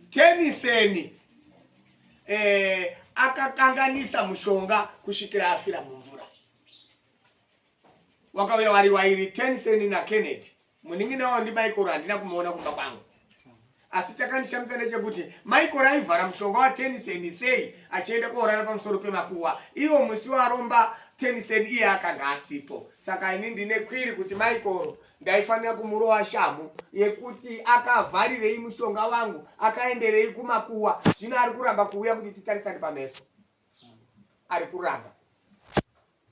Teniseni eh, akakanganisa mushonga kusvikira afira mumvura. Wakauya wari wairi Teniseni na Kennedy. Munin'ina wavo ndi Michael handina kumuona kumba kwangu. Asi chakandishamisa ndechekuti Michael aivhara mushonga wa Teniseni sei achienda koorara pamusoro pemakuwa. Iwo musi waromba Teniseni iye akanga asipo. Saka ini ndine kwiri kuti Michael ndaifanira kumurova shamhu yekuti akavharirei mushonga wangu akaenderei kumakuwa zvino ari kuramba kuuya kuti titarisane pameso ari kuramba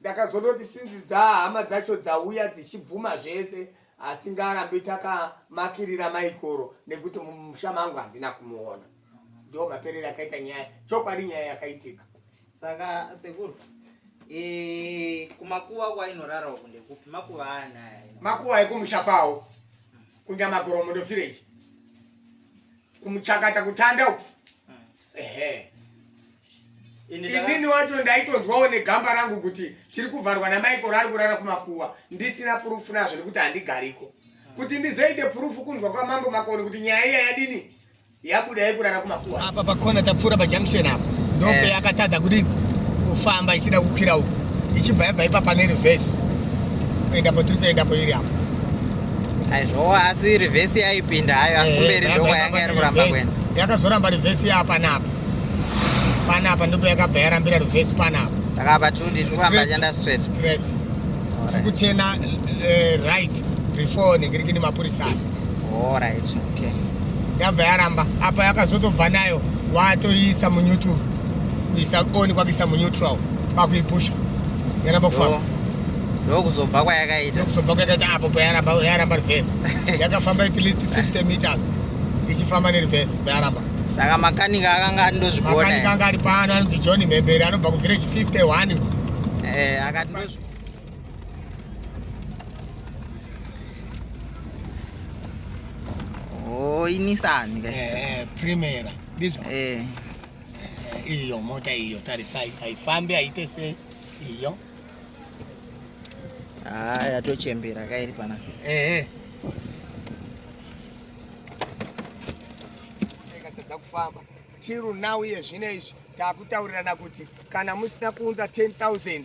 ndakazondoti sinzi dzahama dzacho dzauya dzichibvuma zvese hatingarambi takamakirira maikoro nekuti mumusha mangu handina kumuona ndo maperero akaita nyaya chokwadi nyaya yakaitika saka sekuru eh, kumakuva kwainorara uku ndekupi makuva anaya makuva ekumusha kwawo kunyamagoromo ndofirechi kumuchakata kutanda uku hmm. ehe inini wacho ndaitonzwawo negamba rangu kuti tiri kuvharwa namaikoro ari kurara kumakuva ndisina purufu nazvo nekuti handigariko hmm. kuti ndizoite purufu kunzwa kwamambo makoni kuti nyaya iya yadini yabuda yekurara kumakuwa apa pakona tapfuura pajunction apa ndope eh. yakatadza kudini kufamba ichida kukwira uku ichibva yabva ipa pane reverse kuenda patiri kuendapo iri apo aizvowo asi reverse yaipinda hayo asi eh, kumberi ndoko yanga yari kuramba kuenda yakazoramba reverse yapanapa panapa ndipo yakabva yarambira reverse panapa saka apa tundi tikufamba chanda straight straight tikuchena eh, right before nengirikini mapurisa Alright, okay. Yabva yaramba apa yakazotobva nayo watoiisa muneutral kuisa on kwakuisa muneutral kwakuipusha yaramba kufamba ndokuzobva kwayakaita ndokuzobva kwayakaita apo payaramba yaramba reverse yakafamba at least 50 meters ichifamba nereverse payaramba saka makanika akanga ari ndozvigona makanika anga ari pano anonzi john mhembere anobva kuvillage 51 eh akati ndozvigona Oh, inisani guys. Eh, Primera. This one. Eh. eh iyo mota iyo tarisai haifambi haite sei iyo ah yatochembera kairi pana eh eh ikatadza kufamba tiru now iye zvino izvi takutaurirana kuti kana musina kuunza 10000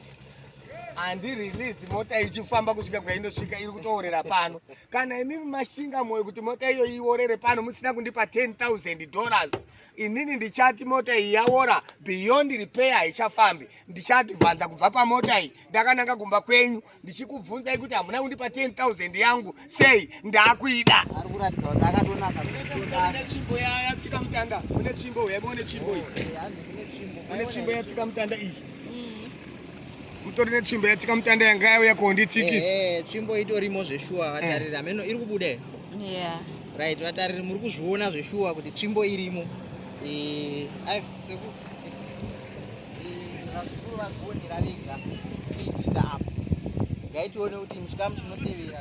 handi release mota ichifamba kusvika kwainosvika iri kutoorera pano kana imi mashinga moyo kuti mota iyo iorere pano musina kundipa 10000 dollars inini ndichati mota iyi yaora beyond repair haichafambi ndichati vhanza kubva pamota iyi ndakananga kumba kwenyu ndichikubvunzai kuti hamuna kundipa 10000 yangu sei ndakuida ari kuratidza kuti akatonaka une chimbo yatsika mutanda une chimbo hebo une chimbo iyi une chimbo yatsika mutanda iyi mutori netsvimbo yatsika mutanda yanga yauya konditsikisa eh, tsvimbo itorimo zveshuwa vatariri eh. ameno iri kubuda right vatariri muri kuzviona zveshuwa kuti tsvimbo irimo eh, vazukuru vazvionera vega kuitika apo ngaitione kuti muchikamu chinotevera